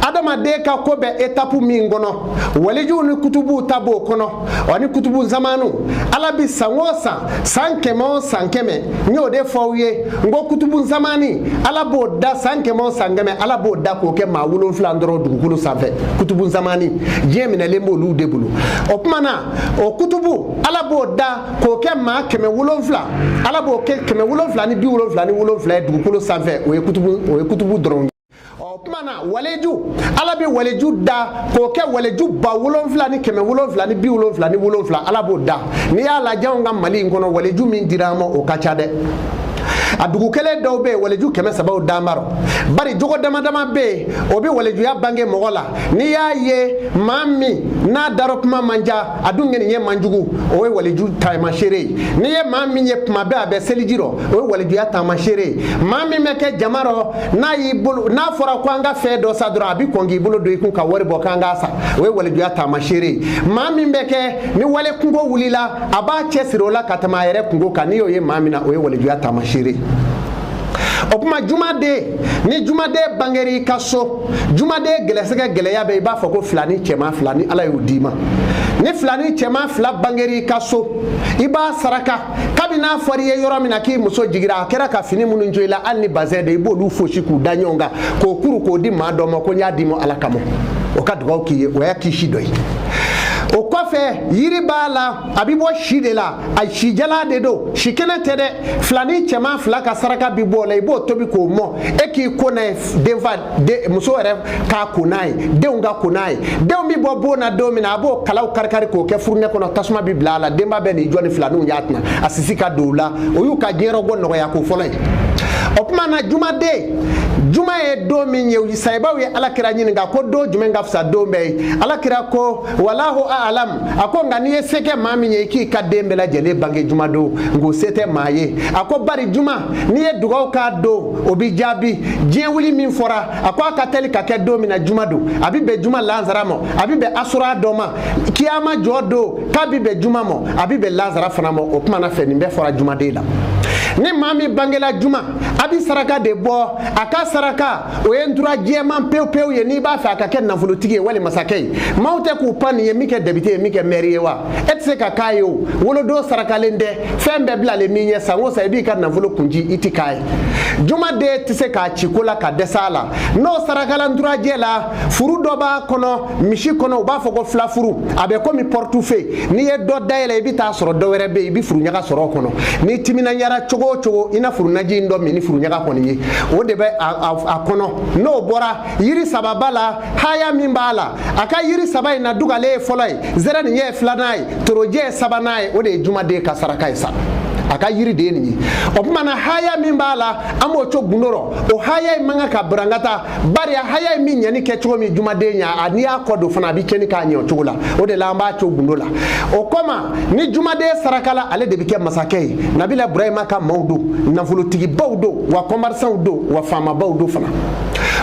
adamaden ka ko bɛ etapu min kɔnɔ walijuw ni kutubuw ta b'o kɔnɔ ani kutubu zamanu ala bi san o san san kɛmɛ o san kɛmɛ n y'o de fɔ aw ye n ko kutubu zamani ala b'o da san kɛmɛ o san kɛmɛ ala b'o da k'o kɛ maa wolonfila dɔrɔn dugukolo sanfɛ kutubu zamani diɲɛ minɛlen b'olu de bolo o kuma na o kutubu ala b'o da k'o kɛ maa kɛmɛ wolonfila ala b'o kɛ kɛmɛ wolonfila ni bi wolonfila ni wolonfila ye dugukolo sanfɛ o ye kutubu dɔrɔn o kuma na waleju ala bɛ waleju da k'o kɛ waleju ba wolonfila ni kɛmɛ wolonfila ni bi wolonfila ni wolonfila ala b'o da n'i y'a lajɛ anw ka mali in kɔnɔ waleju min dira an ma o ka ca dɛ a dugu kelen dɔw bɛ yen waleju kɛmɛ sabaw dan b'a rɔ bari jogo dama dama bɛ yen o bɛ walejuya bange mɔgɔ la n'i y'a ye maa min na a darɔkuma man ca a dun kɛni ye man jugu o ye waliju taamasere ye n'i ye maa min ye tuma bɛɛ a bɛ seliji rɔ o ye walijuya taamasere ye maa min bɛ kɛ jama rɔ n'a y'i bolo n'a fɔra ko an ka fɛn dɔ san dɔrɔn a bɛ kɔn k'i bolo don i kun ka wari bɔ k'an k'a san o ye walijuya taamasere ye maa min bɛ kɛ ni wali kunko wulila a b'a cɛsiri o la ka tɛmɛ a yɛrɛ kunko kan n'i y'o ye maa min na o ye walijuya taamasere ye o kuma jumaden ni jumaden bangera i ka so jumaden gɛlɛsɛgɛ gɛlɛya bɛ i b'a fɔ ko filanin cɛman fila ni ala y'o d'i ma ni filanin cɛman fila bangera i ka so i b'a saraka kabi n'a fɔra i ye yɔrɔ min na k'i muso jigira a kɛra ka fini minnu jo i la hali ni bazɛn de i b'olu fosi k'u da ɲɔgɔn kan k'o kuru k'o di maa dɔ ma ko n y'a d'i ma ala kama o ka dugawu k'i ye o y'a kisi dɔ ye o kɔfɛ yiri b'a la a bɛ bɔ si de la a si jalan de don si kɛnɛ tɛ dɛ filanin cɛman fila ka saraka bi bɔ o la i b'o tobi k'o mɔ e k'i ko n'a ye denfa muso yɛrɛ k'a ko n'a ye denw ka ko n'a ye denw bɛ bɔ bon na don min na a b'o kalaw karikari k'o kɛ furunɛ kɔnɔ tasuma bɛ bila a la denba bɛ n'i jɔ ni filaninw y'a tɛna a sisi ka don o la o y'u ka diɲɛrɔbɔ nɔgɔya ko fɔlɔ ye o tuma na jumaden juma ye don min ye sahabaw ye alakira ɲininka ko don jumɛn ka fisa don bɛɛ ye alakira ko walahu alam a ko nka n'i ye se kɛ maa min ye i k'i ka den bɛɛ lajɛlen bange juma don nka o se tɛ maa ye a ko bari juma n'i ye dugawu k'a don o bɛ jaabi diɲɛ wuli min fɔra a ko a ka teli ka kɛ don min na juma don a bɛ bɛn juma lansara ma a bɛ bɛn asura dɔ ma kiyama jɔ don k'a bɛ bɛn juma ma a bɛ bɛn lansara fana ma o tuma na fɛn in bɛɛ fɔra jumaden la ni maa min bangela juma a bɛ saraka de bɔ a ka saraka o ye ntura jɛman pewu pewu ye n'i b'a fɛ a ka kɛ nafolotigi ye wali masakɛ ye maaw tɛ k'u pan nin ye min kɛ depite ye min kɛ mɛri ye wa e tɛ se ka k'a ye o wolodon sarakalen tɛ fɛn bɛɛ bilalen min ɲɛ san o san i b'i ka nafolo kunji i tɛ k'a ye jumaden tɛ se k'a ci ko la ka dɛsɛ a la n'o sarakala nturajɛ la furu dɔ b'a kɔnɔ misi kɔnɔ u b'a fɔ ko filafuru a bɛ komi portefeuille n'i ye dɔ dayɛlɛ i bɛ t'a sɔrɔ dɔ wɛrɛ bɛ yen i bɛ furuɲaga sɔrɔ o kɔnɔ n'i timinandiyara cogo o cogo i na furunaji in dɔ min ni furuɲaga kɔni ye o de bɛ a kɔnɔ n'o bɔra yiri saba b'a la haya min b'a la a ka yiri saba in na dugalen ye fɔlɔ ye zɛrɛnin ye filanan ye torojɛ ye sabanan ye o de ye jumaden ka saraka ye sa a ka yiri de ye nin ye o tuma na haya min b'a la an b'o to gundo rɔ o haya in man kan ka barankata bari a haya in bɛ ɲɛni kɛ cogo min jumaden ɲa n'i y'a kɔ don fana a bɛ cɛnni k'a ɲɛ o cogo la o de la an b'a to gundo la o kɔma ni jumaden sarakala ale de bɛ kɛ masakɛ ye nabila burahima ka maaw don nafolotigibaw don wa kɔmɛrisanw don wa faamabaw don fana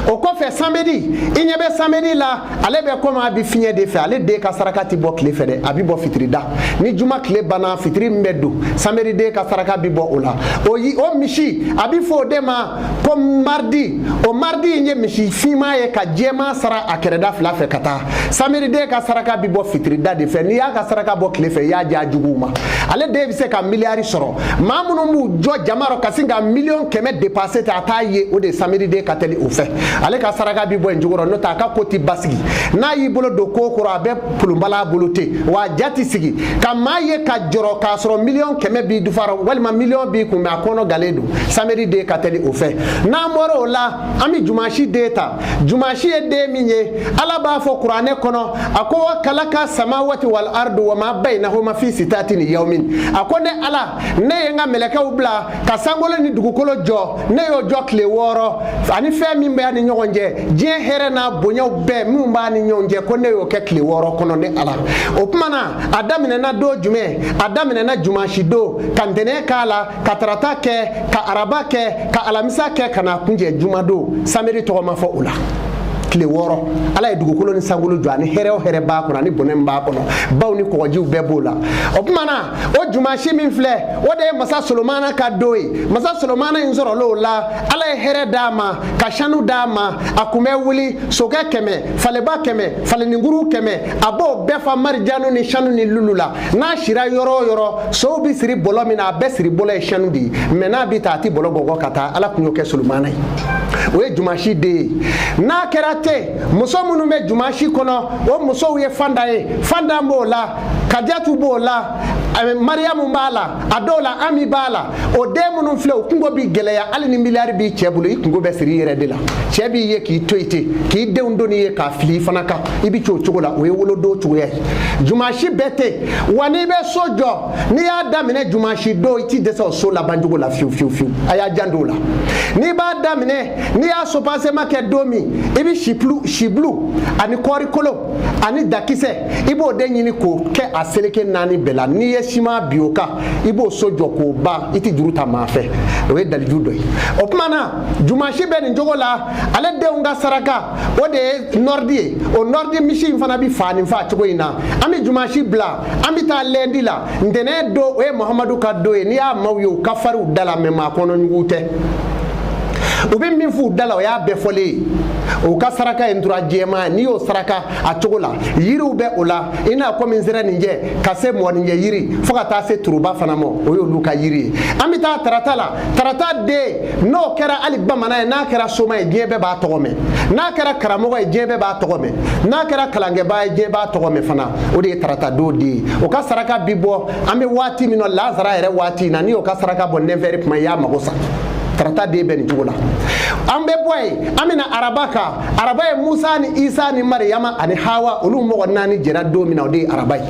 o kɔfɛ samedi i ɲɛ bɛ samedi la ale bɛ komi a bɛ fiɲɛ de fɛ ale den ka saraka tɛ bɔ tile fɛ dɛ a bɛ bɔ fitiri da ni juma tile banna fitiri min bɛ don samedi den ka saraka bɛ bɔ o la o yi o misi a bɛ fɔ o de ma ko mardi o mardi in ye misi finman ye ka jɛman sara a kɛrɛda fila fɛ ka taa samedi den ka saraka bi bɔ fitirida de fɛ n'i y'a ka saraka bɔ tile fɛ i y'a di a juguw ma ale den bɛ se ka miliyari sɔrɔ maa minnu b'u jɔ jama rɔ ka sin ka miliyɔn kɛmɛ depanse ten a t'a ye o de ye samedi den ka teli o fɛ ale ka saraka bi bɔ yen cogo rɔ n'o tɛ a ka ko ti basigi n'a y'i bolo don ko kɔrɔ a bɛ pulunbala a bolo ten wa a ja ti sigi ka maa ye ka jɔrɔ k'a sɔrɔ miliyɔn kɛmɛ b'i dufa rɔ walima miliyɔn b'i kun mɛ a kɔnɔganen don samedi den ka teli o fɛ n'an bɔra o la an bɛ jumasi den ta jumasi ye don min ye ala b'a fɔ kuranɛ kɔnɔ a ko wa kalaka samawati wal ardu wa ma bainahuma fi sitati ayamin a ko ne ala ne ye n ka mɛlɛkɛw bila ka sankolo ni dugukolo jɔ ne y'o jɔ tile wɔɔrɔ ani fɛn min bɛ a ni ɲɔgɔn cɛ diɲɛ hɛrɛ n'a bonyaw bɛɛ minnu b'a ni ɲɔgɔn cɛ ko ne y'o kɛ tile wɔɔrɔ kɔnɔ ne ala o tuma na a daminɛna don jumɛn a daminɛna jumasi don ka ntɛnɛn k'a la ka tarata kɛ ka araba kɛ ka alamisa kɛ ka na kuncɛ jumadon samedi tɔgɔ ma fɔ o la tile wɔɔrɔ ala ye dugukolo ni sankolo jɔ ani hɛrɛ o hɛrɛ b'a kɔnɔ ani bɔnɛ min b'a kɔnɔ baw ni kɔgɔjiw bɛɛ b'o la o tuma na o jumasi min filɛ o de ye masa solomana ka don ye masa solomana in sɔrɔl'o la ala ye hɛrɛ d'a ma ka sanu d'a ma a kun bɛ wuli sokɛ kɛmɛ faleba kɛmɛ faleninkuru kɛmɛ a b'o bɛɛ fa marijanu ni sanu ni lulu la n'a sira yɔrɔ o yɔrɔ sow bɛ siri bɔlɔ min na a bɛɛ siri bɔlɔ ye sanu de ye mɛ n'a bɛ taa a tɛ bɔlɔ bɔgɔ ka taa ala kun y'o kɛ solomana ye o ye jumasi den ye n'a kɛra ten muso minnu bɛ jumasi kɔnɔ o musow ye fanda ye fanda b'o la kajatu b'o la mariyamu b'a la a dɔw la ami b'a la o den minnu filɛ o kunko bi gɛlɛya hali ni miliyari b'i cɛ bolo i kunko bɛ siri i yɛrɛ de la cɛ b'i ye k'i to i ten k'i denw doni ye k'a fili i fana kan i bɛ cogo cogo la o ye wolodon cogoya ye jumasi bɛɛ tɛ wa n'i bɛ so jɔ n'i y'a daminɛ jumasi don i t'i dɛsɛ o so laban cogo la fiyewu fiyewu fiyewu a y'a janto o la n'i b'a daminɛ n'i y'a sopasema kɛ don min i bɛ sibulu sibulu ani kɔɔri kolo ani dakisɛ i b'o de ɲini k'o kɛ a seleke naani bɛɛ la n'i ye siman bi o kan i b'o so jɔ k'o ban i tɛ juru ta maa fɛ o ye daliju dɔ ye o kuma na jumasi bɛ nin cogo la ale denw ka saraka o de ye nɔridi ye o nɔridi misi in fana bɛ faa nin faa cogo in na an bɛ jumasi bila an bɛ taa lɛndi la ntɛnɛn don o ye muhamadu ka don ye n'i y'a maaw ye u ka fari u da la mɛ maa kɔnɔjugu tɛ u bɛ min f'u da la o y'a bɛɛ fɔlen ye u ka saraka ye ntura jɛman n'i y'o saraka a cogo la yiriw bɛ o la i n'a komi nsɛrɛninjɛ ka se mɔgɔninjɛ yiri fo ka taa se turuba fana ma o y'olu ka yiri ye an bɛ taa tarata la tarata den n'o kɛra hali bamanan ye n'a kɛra soma ye diɲɛ bɛɛ b'a tɔgɔ mɛn n'a kɛra karamɔgɔ ye diɲɛ bɛɛ b'a tɔgɔ mɛn n'a kɛra kalankɛbaa ye diɲɛ b'a tɔgɔ mɛn fana o de ye tarata don den ye o ka saraka bi bɔ an bɛ waati min na lazara yɛrɛ waati in na n'i y'o ka saraka bɔ nɛfɛri kuma i y'a mago sa tarata den bɛ nin cogo la an bɛ bɔ yen an bɛ na araba kan araba ye musa ni isa ni mariyama ani hawa olu mɔgɔ naani jɛra don min na o de ye araba ye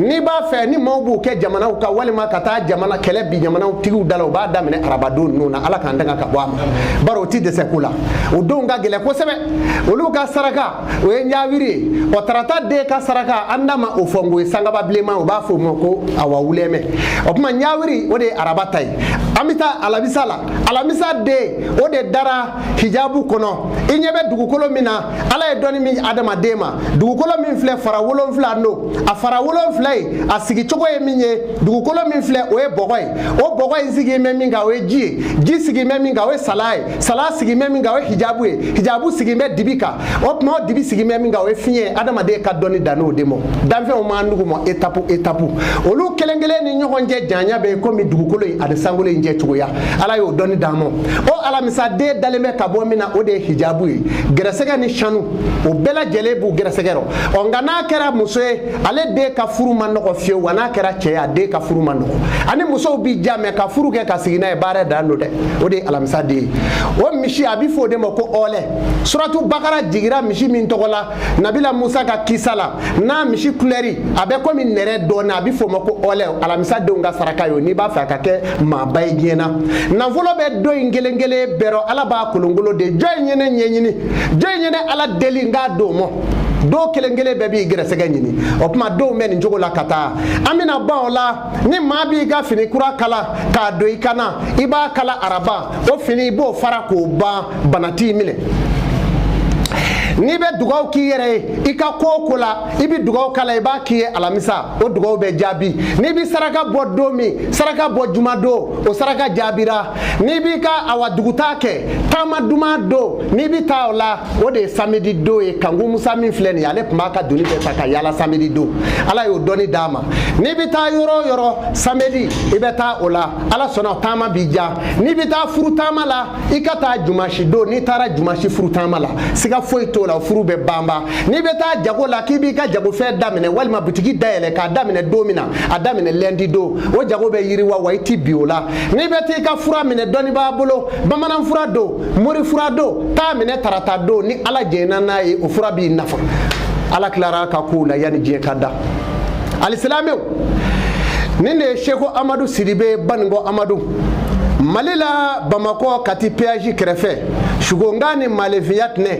n'i b'a fɛ ni maaw b'u kɛ jamanaw kan walima ka taa jamana kɛlɛ bi jamanatigiw da la u b'a daminɛ arabadon ninnu na ala k'an tanga ka bɔ a ma bari o ti dɛsɛ ko la o donw ka gɛlɛn kosɛbɛ olu ka saraka o ye ɲawiri ye ɔ tarata den ka saraka an da ma o fɔ n k'o ye sangaba bilenman u b'a fɔ o ma ko awa wulɛmɛ o kuma ɲawiri o de ye araba ta ye an bɛ taa alamisa la alamisa den o de dara hijabu kɔnɔ i ɲɛ bɛ dugukolo min na ala ye dɔnni min adamaden ma dugukolo min filɛ fara wolonfila don a fara wolonfila ye a sigicogo ye min ye dugukolo min filɛ o ye bɔgɔ ye o bɔgɔ in sigilen bɛ min kan o ye ji ye ji sigilen bɛ min kan o ye sala ye sala sigilen bɛ min kan o ye hijabu ye hijabu sigilen bɛ dibi kan o tuma o dibi sigilen bɛ min kan o ye fiɲɛ ye adamaden ka dɔnni dann'o de ma danfɛnw m'an duguma etapu etapu olu kelen kelen ni ɲɔgɔn cɛ janya bɛ komi dugukolo in ani sankolo in cɛ cogoya ala y'o dɔnni d'an ma o alamisa den dalen bɛ ka bɔ min na o de ye hijabu ye gɛrɛsɛgɛ ni sanu o bɛɛ lajɛlen b'u gɛrɛsɛgɛ rɔ ɔ nka n'a kɛra muso ye ale de ka furu man nɔgɔ fiyewu wa n'a kɛra cɛ ye a den ka furu man nɔgɔ ani musow bi ja mɛ ka furu kɛ ka sigi n'a ye baara dan don dɛ o de ye alamisa den ye o misi a bɛ fɔ o de ma ko ɔɔlɛ suratu bakara jigira misi min tɔgɔ la nabila musa ka kisa la n'a misi kulɛri a bɛ komi nɛrɛ dɔɔni a bɛ f'o ma ko ɔlɛ alamisa denw ka saraka y'o n'i b'a fɛ a ka kɛ maaba ye diɲɛ na nafolo bɛ don in kelen kelen bɛɛ rɔ ala b'a kolonkolon de jɔn in ye ne ɲɛɲini jɔn in ye ne ala deli nka don mɔ donw kelen kelen bɛɛ b'i gɛrɛsɛgɛ ɲini o tuma donw bɛ nin cogo la ka taa an bɛna ban o la ni maa b'i ka fini kura kala k'a don i kana i b'a kala araba o fini i b'o fara k'o ban bana t'i minɛ n'i bɛ dugaw k'i yɛrɛ ye i ka ko o ko la i bɛ dugaw k'a la i b'a k'i ye alamisa o dugaw bɛ jaabi n'i bɛ saraka bɔ don min saraka bɔ jumadon o saraka jaabira n'i b'i ka awa dugutaa kɛ taama duman don n'i bɛ taa o la o de ye samedi don ye kanku musa min filɛ nin ye ale tun b'a ka doni bɛɛ ta ka yaala samedi don ala y'o dɔnni d'a ma n'i bɛ taa yɔrɔ o yɔrɔ samedi i bɛ taa o la ala sɔnna taama b'i diya n'i bɛ taa furu taama la i ka taa jumasi don n'i taara jumasi furu taama la siga foyi t'o la furu bɛ banba n'i bɛ taa jago la k'i b'i ka jagofɛn daminɛ walima bitigi dayɛlɛ k'a daminɛ don min na a daminɛ lɛndi don o jago bɛ yiriwa wa i ti bin o la n'i bɛ t'i ka fura minɛ dɔnnibaa bolo bamanan fura don mori fura don t'a minɛ tarata don ni ala jɛnna n'a ye o fura b'i nafa ala tilar'a ka kow la yanni diɲɛ ka da alisilamew ni ne seko amadu sidibe banikɔ amadu mali la bamakɔ kati peyaji kɛrɛfɛ sugonkan ni malefiya tɛnɛ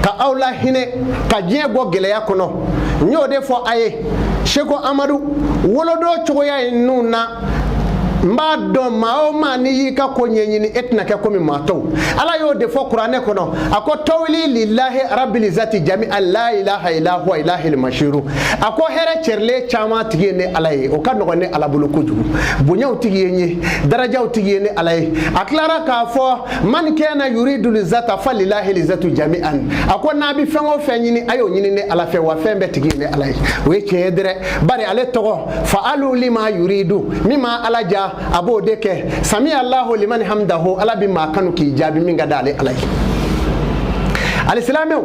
ka aw la hinɛ ka diɲɛ bɔ gɛlɛya kɔnɔ n y'o de fɔ a ye seko amadu wolodon cogoya ye ninnu na n b'a dɔn maa o maa n'i y'i ka ko ɲɛɲini e tɛna kɛ komi maa tɔw ala y'o de fɔ kuranɛ kɔnɔ a ko tɔwili lilahi arabili zati jamian la ilaha ila huwa ilahi mashiru a ko hɛrɛ cɛrilen caman tigi ye ne ala ye o ka nɔgɔn ne ala bolo kojugu bonyaw tigi ye n ye darajaw tigi ye ne ala ye a tilara k'a fɔ mani kana yuridu lizata fa lilahi lizatu jamian a ko n'a bɛ fɛn o fɛn ɲini a y'o ɲini ne ala fɛ wa fɛn bɛɛ tigi ye ne ala ye o ye tiɲɛ ye dɛrɛ bari ale tɔgɔ fa'alu lima yuridu min ma ala diya a b'o de kɛ sami allahu liman hamdahu ala bɛ maa kanu k'i jaabi min ka di ale ala ye alisilamɛw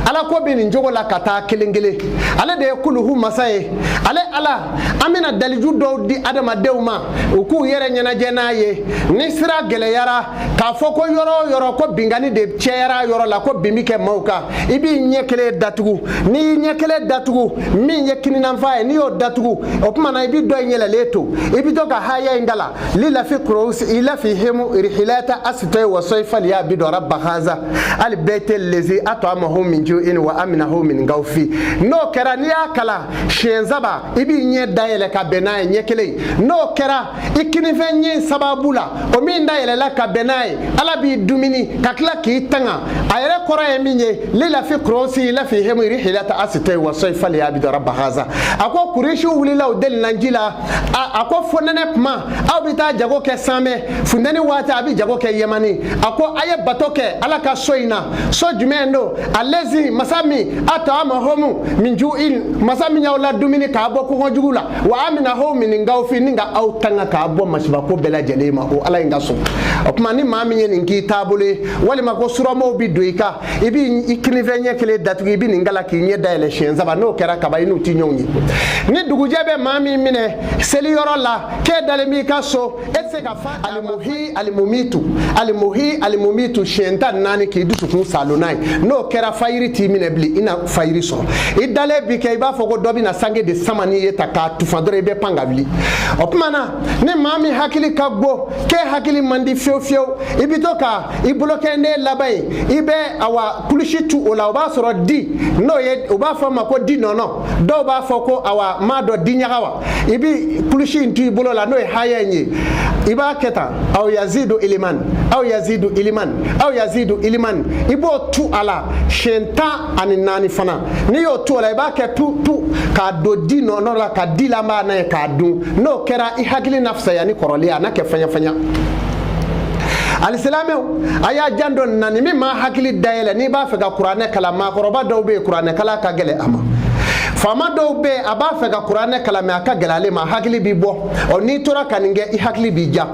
ala ko bɛ nin cogo la ka taa kelen kelen ale de ye kuluhu masa ye ale ala an bɛna daliju dɔw di adamadenw ma u k'u yɛrɛ ɲɛnajɛ n'a ye ni sira gɛlɛyara k'a fɔ ko yɔrɔ o yɔrɔ ko binkanni de cayara yɔrɔ la ko bin bɛ kɛ maaw kan i b'i ɲɛ kelen datugu n'i y'i ɲɛ kelen datugu min ye kininyanfan ye n'i y'o datugu o tuma na i bɛ dɔ in yɛlɛlen to i bɛ to ka haya in kalan lilafi kurɔsi ilafi hemu rihilata asitoye wa soyi faliya bidu raba haza halibayiti lezi atama ho min ju in wa amina ho min gawfi n'o kɛra n'i y'a kalan siɲɛ saba i b'i ɲɛ dayɛlɛ ka bɛn n'a ye ɲɛ kelen n'o kɛra i kininfɛ ɲɛ sababu la o min dayɛlɛla ka bɛn n'a ye ala b'i dumuni ka tila k'i tanga a yɛrɛ kɔrɔ ye min ye lilafi kurɔsi ilafi hemu rihilata asitɛ wa sɔyi faliya bidu raba haza a ko kurisiw wulila u delina ji la a ko fonɛnɛ kuma aw bɛ taa jago kɛ sami funteni waati a bɛ jago kɛ yɛmani a ko a ye bato kɛ ala ka so in na so jumɛn don alezi masa min atama homu min ju in masa min y'aw ladumuni k'a bɔ kɔngɔ jugu la wa amina ho min gawfi ni ka aw tanga k'a bɔ masibako bɛɛ lajɛlen ma o ala in ka so o tuma ni maa min ye nin k'i taabolo ye walima ko suramaaw bi don i kan i b'i i kininfɛ ɲɛ kelen datugu i bɛ nin kalan k'i ɲɛ dayɛlɛ siɲɛ saba n'o kɛra kaba i n'u ti ɲɔgɔn ye ni dugujɛ bɛ maa min minɛ seli yɔrɔ la k'e dalen b'i ka so e se k'a fɔ alimuhi alimumitu alimuhi alimumitu siɲɛ tan naani k'i dusukun saalo n'a ye n'o kɛra fayiri t'i minɛ bilen i na fayiri sɔrɔ i dalen bi kɛ i b'a fɔ ko dɔ bɛ na sange de sama n'i ye ta k'a tufa dɔrɔn i bɛ pan ka wuli o tuma na ni maa min hakili ka go k'e hakili man di fiyewu fiyewu i bɛ to ka i bolonkɔni laban ye i bɛ awa kilisi tu o la o b'a sɔrɔ di n'o ye u b'a fɔ a ma ko di nɔnɔ dɔw b'a fɔ ko awa m'a dɔn diɲaga wa i bi kilisi in tu i bolo la n'o ye haya in ye i b'a kɛ tan aw yazidu iliman aw yazidu iliman aw yazidu iliman i b'o tu a la siɲɛ tan ani naani fana n'i y'o tu a la i b'a kɛ tu tu k'a don di nɔnɔ la ka di la b'a n'a ye k'a dun n'o kɛra i hakili na fisaya ni kɔrɔlen a na kɛ fɛɲɛfɛɲɛ alisilamɛw a y'a janto n na nin bi maa hakili dayɛlɛ n'i b'a fɛ ka kuranɛ kalan maakɔrɔba dɔw bɛ yen kuranɛ kalan ka gɛlɛn a ma faama dɔw bɛ yen a b'a fɛ ka kuranɛ kalan mɛ a ka gɛlɛn ale ma hakili bi bɔ ɔ n'i tora ka nin kɛ i hakili bi diya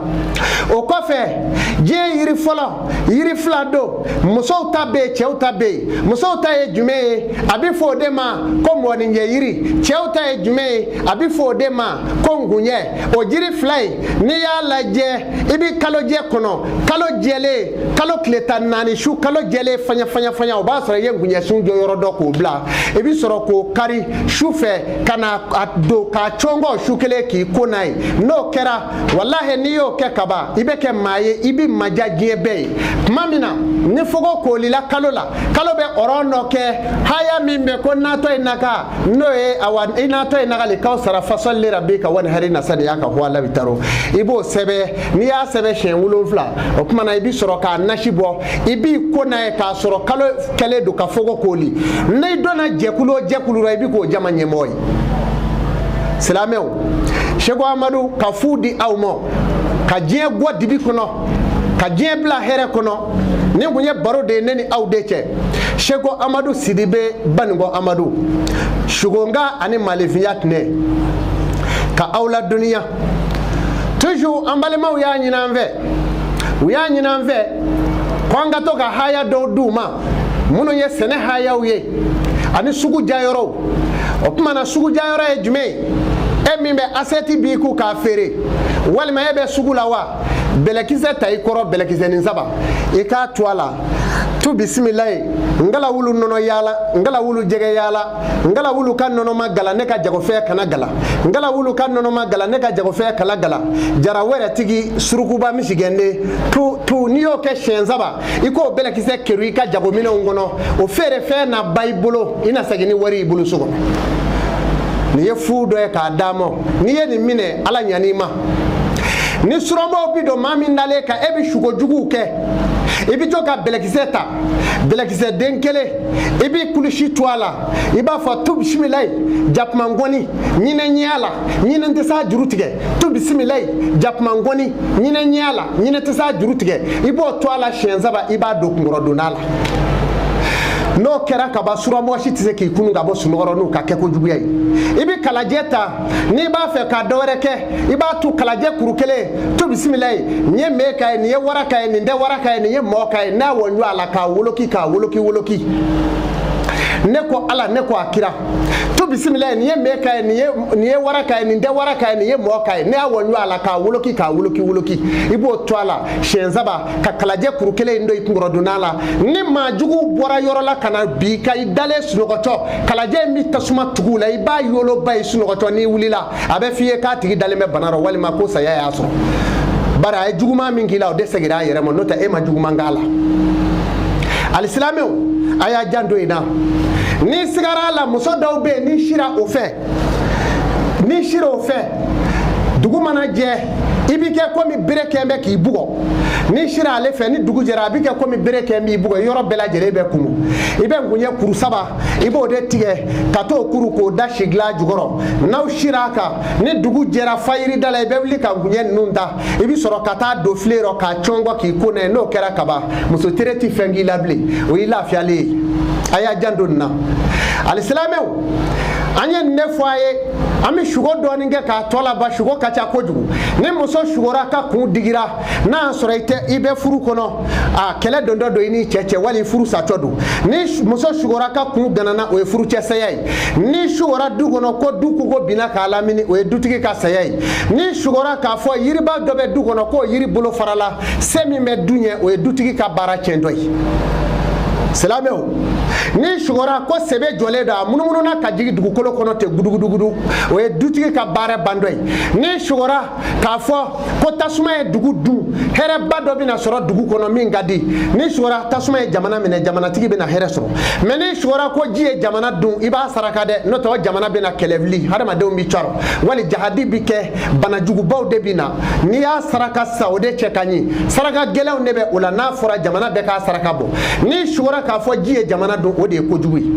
o kɔfɛ diɲɛ yiri fɔlɔ yiri fila don musow ta bɛ yen cɛw ta bɛ yen musow ta ye jumɛn ye a bɛ fɔ o de ma ko mɔgɔninjɛ yiri cɛw ta ye jumɛn ye a bɛ fɔ o de ma ko ngunjɛ o jiri fila in n'i y'a lajɛ i bɛ kalojɛ kɔnɔ kalo jɛlen kalo tile tan naani su kalo jɛlen fanya fanya fanya o b'a sɔrɔ i ye ngunjɛsun jɔyɔrɔ dɔn k'o bila i bɛ sɔrɔ k'o kari su fɛ ka na a don k'a cɔngɔ su kelen k'i ko n'a ye n'o kɛra walahi n'i y'o kɛ kaban i bɛ kɛ maa ye i bɛ madiya diɲɛ bɛɛ ye tuma min na ni fogo kolila kalo la kalo bɛ ɔrɔn dɔ kɛ haya min bɛ ko inatɔyinaka n'o ye awa inatɔyinakali kawsara fasɔli lirabika wanihari ina saniyaka huwa labitaro i b'o sɛbɛ n'i y'a sɛbɛ siɲɛ wolonfila o tuma na i bi sɔrɔ k'a nasi bɔ i b'i ko n'a ye k'a sɔrɔ kalo kɛlen don ka fogo koli n'i donna jɛkulu o jɛkulu la i bi k'o jama ɲɛmɔgɔ ye silamɛw seko amadu ka fu di aw ma ka diɲɛ bɔ dibi kɔnɔ ka diɲɛ bila hɛrɛ kɔnɔ nin kun ye baro de ye ne ni aw de cɛ seko amadu sidibe baninkɔ amadu sugonka ani malefinya tɛnɛ ka aw la duniya toujours an balimaw y'a ɲini an fɛ u y'a ɲini an fɛ ko an ka to ka haya dɔw d'u ma minnu ye sɛnɛ hayaw ye ani sugu diyayɔrɔw o tuma na sugu diyayɔrɔ ye jumɛn ye e min bɛ asɛti b'i kun k'a feere walima e bɛ sugu la wa bɛlɛkisɛ ta i kɔrɔ bɛlɛkisɛnin saba i k'a tu a la tu bisimilayi ngala wulu nɔnɔ yaala ngala wulu jɛgɛ yaala ngala wulu ka nɔnɔ ma gala ne ka jagofɛn kana gala ngala wulu ka nɔnɔ ma gala ne ka jagofɛn kana gala jara wɛrɛ tigi surukuba misigɛnden tu tu n'i y'o kɛ siɲɛ saba i k'o bɛlɛkisɛ kerun i ka jagominɛnw kɔnɔ o feerefɛn na ban i bolo i na segin ni wari i bolo so kɔnɔ nin ye fu dɔ ye k'a d'aw ma n'i ye nin minɛ ala ɲan'i ma ni suramɔgɔw bi don maa min dalen kan e bi sugo juguw kɛ i bi to ka bɛlɛkisɛ ta bɛlɛkisɛ den kelen i b'i kilisi tu a la i b'a fɔ tu bisimilayi jakumangɔni ɲinɛ ɲɛ y'a la ɲinɛ tɛ s'a juru tigɛ tu bisimilayi jakumangɔni ɲinɛ ɲɛ y'a la ɲinɛ tɛ s'a juru tigɛ i b'o tu a la siɲɛ saba i b'a don kunkɔrɔdonnan na n'o kɛra kaban suramɔgɔ si tɛ se k'i kunun ka bɔ sunɔgɔ rɔ n'u ka kɛko juguya ye i bɛ kalajɛ ta n'i b'a fɛ ka dɔ wɛrɛ kɛ i b'a tu kalajɛ kuru kelen tu bisimilayi nin ye mee ka ye nin ye wara ka ye nin tɛ wara ka ye nin ye mɔɔ ka ye n'a wɔnjɔ a la k'a woloki k'a woloki woloki ne ko ala ne ko a kira tu bisimilayi nin ye mee ka ye nin ye wara ka ye nin tɛ wara ka ye nin ye mɔɔ ka ye ne y'a wɔnjɔ a la k'a woloki k'a woloki woloki i b'o tu a la siɲɛ saba ka kalajɛ kuru kelen in don i kunkɔrɔdonnan na ni maa juguw bɔra yɔrɔ la ka na bi ka i dalen sunɔgɔtɔ kalajɛ in bɛ tasuma tugu a la i b'a yoloba ye sunɔgɔtɔ n'i wulila a bɛ f'i ye k'a tigi dalen bɛ bana rɔ walima ko saya y'a sɔrɔ bari a ye juguman min k'i la o de segira a yɛrɛ ma n'o tɛ e ma juguman k'a la alisilamɛw a y'a janto in na n'i sigara a la muso dɔw bɛ yen n'i sira o fɛ n'i sira o fɛ dugu mana jɛ i b'i kɛ komi bere kɛn bɛ k'i bugɔ n'i sira ale fɛ ni dugu jɛra a b'i kɛ komi bere kɛn b'i bugɔ i yɔrɔ bɛɛ lajɛlen bɛ kumu i bɛ ngunɲɛ kuru saba i b'o de tigɛ ka t'o kuru k'o da sigilan jukɔrɔ n'aw sira a kan ni dugu jɛra fayirida la i bɛ wuli ka ngunɲɛ ninnu ta i bi sɔrɔ ka taa don filen rɔ k'a cɔnkɔ k'i ko n'a ye n'o kɛra kaban muso tere ti fɛn k'i la bilen o y'i lafiyalen ye a y'aw janto nin na alisilamɛw an ye nin de fɔ a ye an bɛ sugo dɔɔni kɛ k'a tɔ laban sugo ka ca kojugu ni muso sugora k'a kun digira n'a y'a sɔrɔ i tɛ i bɛ furu kɔnɔ a kɛlɛ dontɔ don i n'i cɛ cɛ wali furu satɔ don ni muso sugora k'a kun ganana o ye furucɛ saya ye n'i sugora du kɔnɔ ko du kogo binna k'a lamini o ye dutigi ka saya ye n'i sugora k'a fɔ yiriba dɔ bɛ du kɔnɔ k'o yiri bolo farala se min bɛ du ɲɛ o ye dutigi ka baara tiɲɛtɔ ye silamɛw n'i sugora ko sebe jɔlen don a munumununa ka jigin dugukolo kɔnɔ ten gudugudugudu o ye dutigi ka baara bantɔ ye n'i sugora k'a fɔ ko tasuma ye dugu dun hɛrɛba dɔ bɛna sɔrɔ dugu kɔnɔ min ka di n'i sugora tasuma ye jamana minɛ jamanatigi bɛna hɛrɛ sɔrɔ mɛ n'i sugora ko ji ye jamana dun i b'a saraka dɛ n'o tɛ o jamana bɛna kɛlɛ wuli hadamadenw bɛ cɔrɔ wali jahadi bɛ kɛ banajugubaw de bɛ na n'i y'a saraka sisan o de cɛ ka ɲi saraka gɛlɛnw de bɛ o la n'a fɔra jamana bɛɛ k'a saraka bɔ n'i sugora k'a fɔ ji ye jamana dun o de ye kojugu ye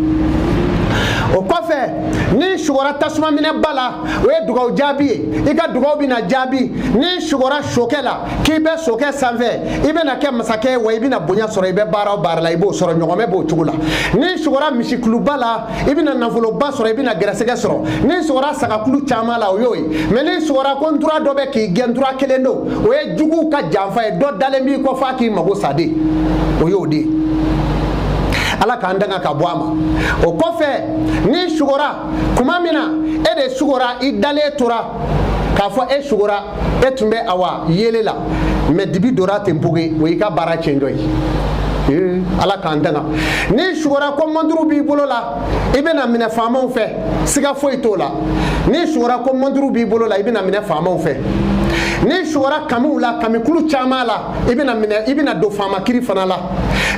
o kɔfɛ n'i sugora tasuma mɛnɛba la o ye dugawu jaabi ye i ka dugawu bɛna jaabi n'i sugora sokɛ la k'i bɛ sokɛ sanfɛ i bɛna kɛ masakɛ wa i bɛna bonya sɔrɔ i bɛ baara o baara la i b'o sɔrɔ ɲɔgɔmɛ b'o cogo la n'i sugora misikuluba la i bɛna nafoloba sɔrɔ i bɛna gɛrɛsɛgɛ sɔrɔ n'i sugora sagakulu caman la o y'o ye mɛ n'i sugora ko ntura dɔ bɛ k'i gɛn ntura kelen don o ye juguw ka janfa ye dɔ dalen b'i kɔ f'a k'i mago sa dɛ o y'o de ye ala k'an tanga ka bɔ a ma o kɔfɛ n'i sugora kuma min na e de sugora i dalen tora k'a fɔ e sugora e tun bɛ awa yeelen la mɛ dibi dora ten poge o y'i ka baara tiɲɛtɔ ye ee ala k'an tanga n'i sugora ko mɔnturu b'i bolo la i bɛna minɛ faamaw fɛ siga foyi t'o la n'i sugora ko mɔnturu b'i bolo la i bɛna minɛ faamaw fɛ n'i sugora kamiw la kamikulu caman la i bɛna minɛ i bɛna don faama kiri fana la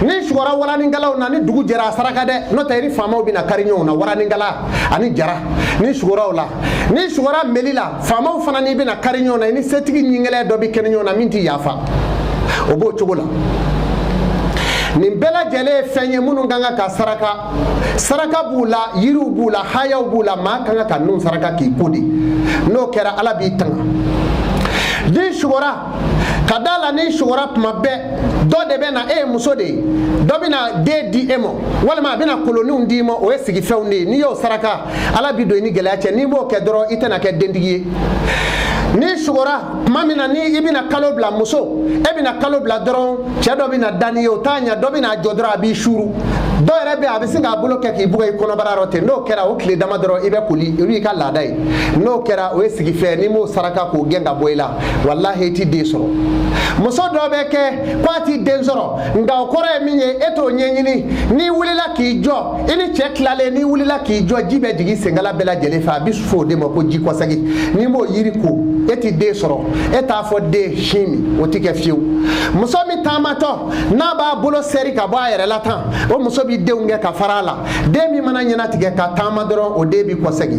n'i sugora waraninkalanw na ni dugu jɛra a saraka dɛ n'o tɛ i ni faamaw bɛna kari ɲɔgɔn na waraninkalan ani jara n'i sugora o la n'i sugora meli la faamaw fana n'i bɛna kari ɲɔgɔn na i ni setigi ɲingɛlɛn dɔ bɛ kɛ ɲɔgɔn na min tɛ yafa o b'o cogo la nin bɛɛ lajɛlen ye fɛnw ye minnu ka kan ka saraka saraka b'u la yiriw b'u la hayaw b'u la maa ka kan ka nun saraka k'i ko dɛ n'o kɛra ala b'i tanga dɛ n'i sugora ka da la n'i sugora tuma bɛɛ dɔ de bɛ na e ye muso de ye dɔ bɛ na den di e ma walima a bɛ na koloninw d'i ma o ye sigifɛnw de ye n'i y'o saraka ala bi don i ni gɛlɛya cɛ n'i b'o kɛ dɔrɔn i tɛna kɛ dentigi ye n'i sugora tuma min na ni i bɛna kalo bila muso e bɛna kalo bila dɔrɔn cɛ dɔ bɛna da n'i ye o t'a ɲɛ dɔ bɛna jɔ dɔrɔn a b'i suuru dɔw yɛrɛ bɛ a bɛ se k'a bolo kɛ k'i bugɔ i kɔnɔbara yɔrɔ ten n'o kɛra o tile dama dɔrɔn i bɛ koli olu y'i ka laada ye n'o kɛra o ye sigifɛn n'i m'o saraka k'o gɛn ka bɔ i la walahi i ti den sɔrɔ muso dɔ bɛ kɛ ko a ti den sɔrɔ nka o kɔrɔ ye min ye e t'o ɲɛɲini n'i wulila k'i jɔ i ni cɛ tilalen n'i wulila k'i jɔ ji bɛ jigin senkala bɛɛ lajɛlen fɛ a bɛ fɔ o de ma ko ji kɔsɛgi n'i m'o yiri ko e ti den sɔrɔ e t'a fɔ den sin min o ti kɛ fiyewu muso min taamatɔ n'a b'a bolo sɛri ka bɔ a yɛrɛ la tan o muso bɛ denw kɛ ka fara a la den min mana ɲɛnatigɛ ka taama dɔrɔn o den bɛ kɔsɛgi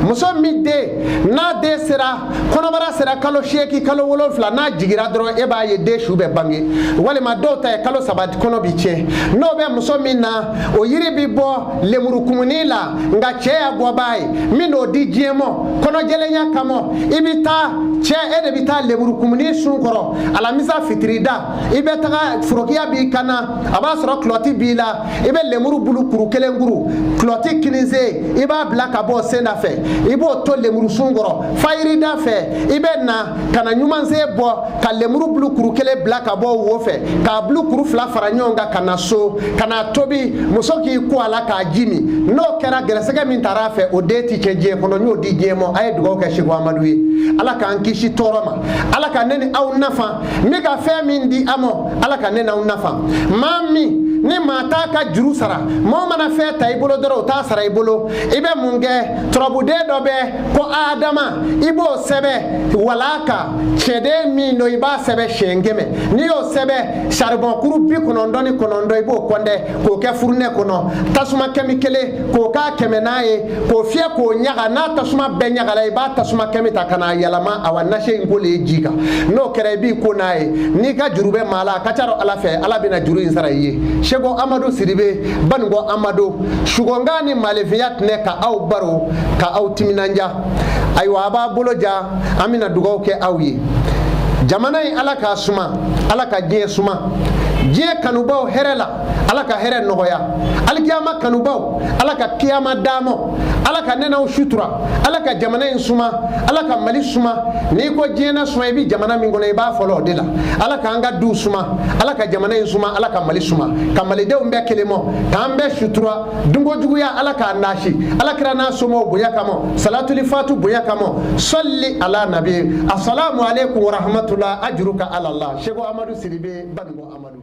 muso min den n'a den sera kɔnɔbara sera kalo seeki kalo wolonfila n'a jigira dɔrɔn e b'a ye den su bɛ bange walima dɔw ta ye kalo saba kɔnɔ bi tiɲɛ n'o bɛ muso min na o yiri bi bɔ lemuru kumuni la nka cɛ y'a bɔbaa ye n bɛ n'o di diɲɛ mɔ kɔnɔjɛlenya kama i bɛ taa cɛ e de bɛ taa lemuru kumuni sun kɔrɔ alamisa fitirida i bɛ taga forokiya b'i kan na a b'a sɔrɔ kulɔti b'i la i bɛ lemuru bulu kuru kelen kuru kulɔti kinin sen i b'a bila ka bɔ sen da fɛ i b'o to lemuru sun kɔrɔ fayirida fɛ i bɛ na ka na ɲuman sen bɔ ka lemuru bulu kuru kelen bila ka bɔ wo fɛ k'a bulu kuru fila fara ɲɔgɔn kan ka na so ka na tobi muso k'i ko a la k'a ji min n'o kɛra gɛrɛsɛgɛ min taara a fɛ o den ti tiɲɛ diɲɛ kɔnɔ n y'o di diɲɛ ma a ye dugawu kɛ seku amadu ye ala k'an kisi tɔɔrɔ ma ala ka ne ni aw nafa n bɛ ka fɛn min di a ma ala ka ne n'aw nafa maa min ni maa t'a ka juru sara maaw mana fɛn ta i bolo dɔrɔn u t'a sara i bolo i bɛ mun kɛ turabuden dɔ bɛ ko adama i b'o sɛbɛ walaa kan cɛnden min don i b'a sɛbɛ siɲɛ kɛmɛ n'i y'o sɛbɛ saribɔn kuru bi kɔnɔntɔn ni kɔnɔntɔn i b'o kɔntɛ k'o kɛ furunɛ kɔnɔ tasuma kami kelen k'o k'a kɛmɛnan ye k'o fiyɛ k'o ɲaga n'a tasuma bɛɛ ɲagala i b'a tasuma kami ta ka n'a yɛlɛma awa nasi in kolen ji kan n'o kɛra i b'i ko n'a ye n'i ka juru bɛ maa la a ka ca dɔ ala fɛ ala bɛna juru in sara i ye seku amadu siribe baninkɔ amadu sugɔnkan ni maalefinya tɛnɛ ka aw baro ka aw timinanja ayiwa a b'a bolo ja an bɛna dugaw kɛ aw ye jamana in ala k'a suma ala ka diɲɛ suma diɲɛ kanubaw hɛrɛ la ala ka hɛrɛ nɔgɔya alikiyama kanubaw ala ka kiyama d'an ma ala ka nɛnɛw sutura ala ka jamana in suma ala ka mali suma n'i ko diɲɛ na suma i bɛ jamana min kɔnɔ i b'a fɔlɔ o de la ala k'an ka duw suma ala ka jamana in suma ala ka mali suma ka malidenw bɛn kelen ma k'an bɛɛ sutura dunko juguya ala k'a naasi ala kira n'a somɔgɔw bonya kama salatuli fatu bonya kama sali ala nabi asalamu aleykum warahmatula ajuru ka ala la seku amadu sidibe baninko amadu